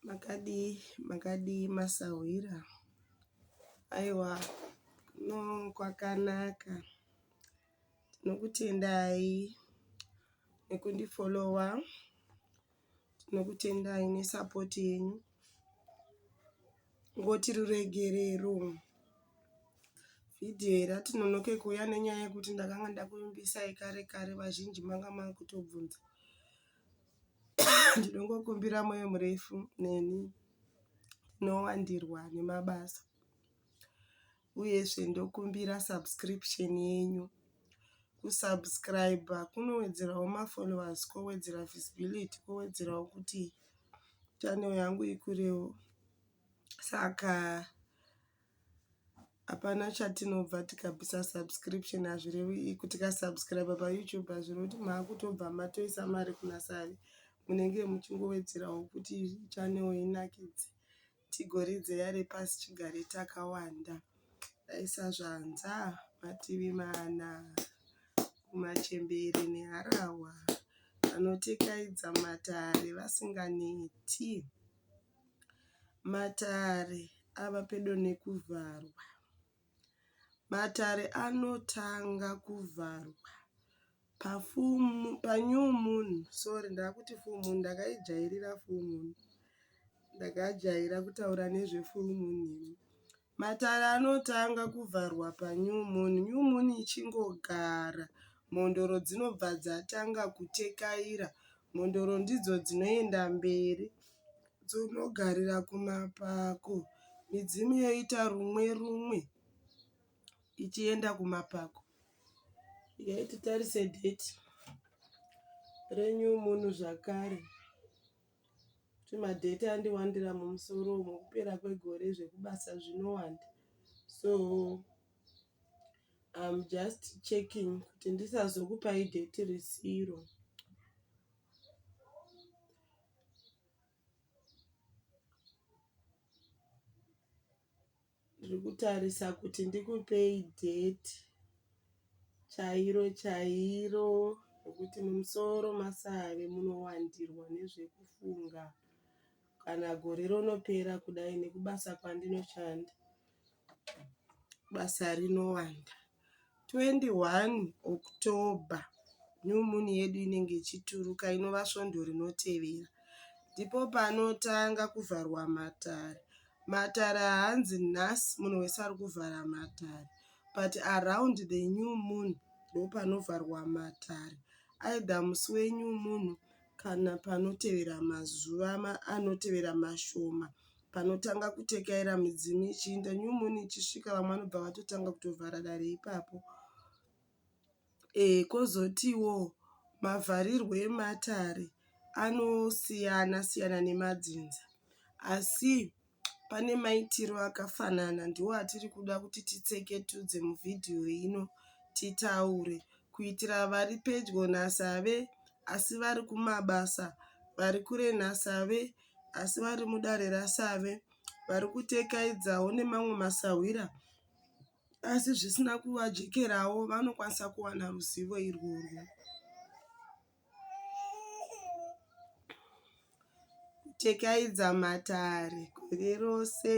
Makadii makadii masahwira aiwa kuno kwakanaka tinokutendai nekundifollower tinokutendai nesupport yenyu ngoti ruregerero vhidhiyo iri atinonoke kuuya nenyaya yekuti ndakanga ndakuimbisayi kare kare vazhinji manga makutobvunza ndinongokumbira moyo murefu neni ndinowandirwa nemabasa uyezve ndokumbira subscription yenyu kusubscribe kunowedzerawo mafollowers kowedzera visibility kowedzerawo kuti channel yangu ikurewo saka Hapana chatinobva tikabvisa subscription hazvirevi iko tikasubscriber paYouTube hazvirevi kuti makutobva matoisa mari kuna Savi. Munenge muchingowedzerawo kuti channel inakidze tigoridze yare pasi chigare takawanda. Taisa zvanza mativi mana kumachembere neharahwa vanotikayidza matare vasinganeti. Matare ava pedo nekuvharwa. Matare anotanga kuvharwa panew moon sorry ndaakuti full moon ndakaijairira full moon. Ndakajaira kutaura nezve full moon ini. Matare anotanga kuvharwa panew moon. New moon ichingogara mhondoro dzinobva dzatanga kutekaira. Mhondoro ndidzo dzinoenda mberi dzonogarira kumapako. Midzimu yoita rumwe rumwe ichienda kumapako. Huyai titarise date renew moon zvakare. kuti madheti andiwandira mumusoro umu kupera kwegore zvekubasa zvinowanda so I'm just checking kuti ndisazokupai dheti risiro. Ndiri kutarisa kuti ndikupei date chairo chairo rekuti mumusoro masave munowandirwa nezvekufunga kana gore rinopera kudai nekubasa kwandinoshanda basa rinowanda. 21 October new moon yedu inenge ichituruka inova svondo rinotevera ndipo panotanga kuvharwa matare. Matare haanzi nhasi munhu wese ari kuvhara matare but around the new moon ndopanovharwa matare either musi wenew moon kana panotevera mazuva anotevera mashoma Panotanga kutekaira midzimu ichiinda new moon ichisvika vamwe vanobva vatotanga kutovhara dare ipapo. Eeh kozotiwo mavharirwo ematare anosiyana siyana nemadzinza asi pane maitiro akafanana ndiwo atiri kuda kuti titseketudze muvhidhiyo ino titaure kuitira vari pedyo nasave asi vari kumabasa vari kure nasave asi vari mudare rasave vari kutekaidzawo nemamwe masahwira asi zvisina kuvajekerawo vanokwanisa kuwana ruzivo irworwo. Tekaidza matare gore rose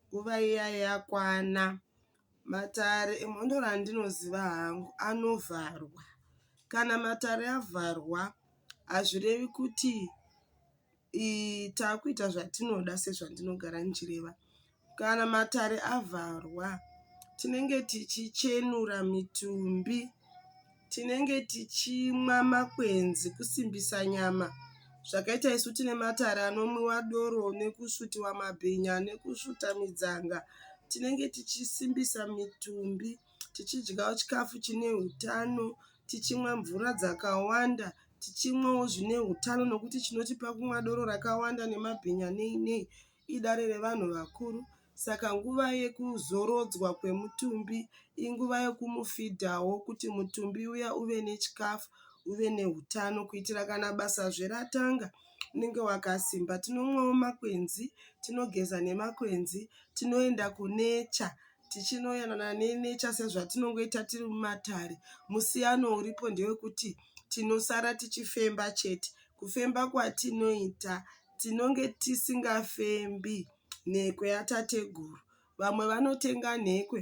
nguva iya yakwana. Matare emhondo randinoziva hangu anovharwa. Kana matare avharwa hazvirevi kuti takuita zvatinoda sezvandinogara ndichireva. Kana matare avharwa tinenge tichichenura mitumbi, tinenge tichimwa makwenzi kusimbisa nyama zvakaita isu tine matare anomwiwa doro nekusvutiwa mabhinya nekusvuta midzanga. Tinenge tichisimbisa mitumbi tichidyawo chikafu chine hutano. tichimwa mvura dzakawanda tichimwawo zvine utano nokuti chinotipa kumwa doro rakawanda nemabhinya nei nei idare revanhu vakuru saka nguva yekuzorodzwa kwemutumbi inguva yekumufidhawo kuti mutumbi uya uve nechikafu uve neutano kuitira kana basazve ratanga unenge wakasimba. Tinomwawo makwenzi, tinogeza nemakwenzi, tinoenda kunecha. tichinoyanana nenecha sezvatinongoita tiri mumatare musiyano uripo ndewekuti tinosara tichifemba chete kufemba kwatinoita tinonge tisingafembi nhekwe yatateguru vamwe vanotenga nhekwe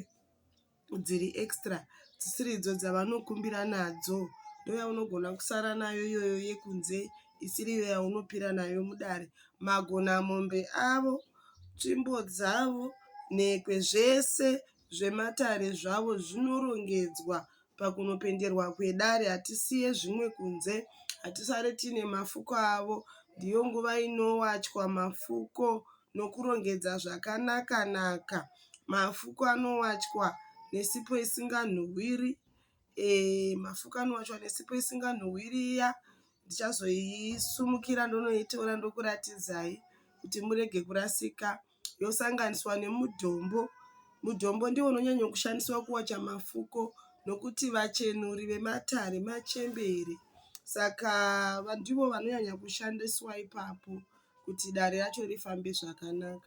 dziri extra dzisiri idzo dzavanokumbira nadzo ndoyaunogona kusara nayo iyoyo yekunze isiriyo yaunopira nayo mudare, magonamombe avo, tsvimbo dzavo, nhekwe zvese zvematare zvavo zvinorongedzwa pakunopenderwa kwedare. Hatisiye zvimwe kunze, hatisare tiine mafuko avo. Ndiyo nguva inowachwa mafuko nokurongedza zvakanaka-naka. Mafuko anowachwa nesipo isinganhuhwiri. Eeh mafukani wacho ane sipo isinganhuwiri iya ndichazoisumukira ndonoitora ndokuratidzai kuti murege kurasika. Yosanganiswa nemudombo. Mudombo ndiwo unonyanyo kushandiswa kuwacha mafuko nokuti vachenuri vematare machembere saka ndivo vanonyanya kushandiswa ipapo kuti dare racho rifambe zvakanaka.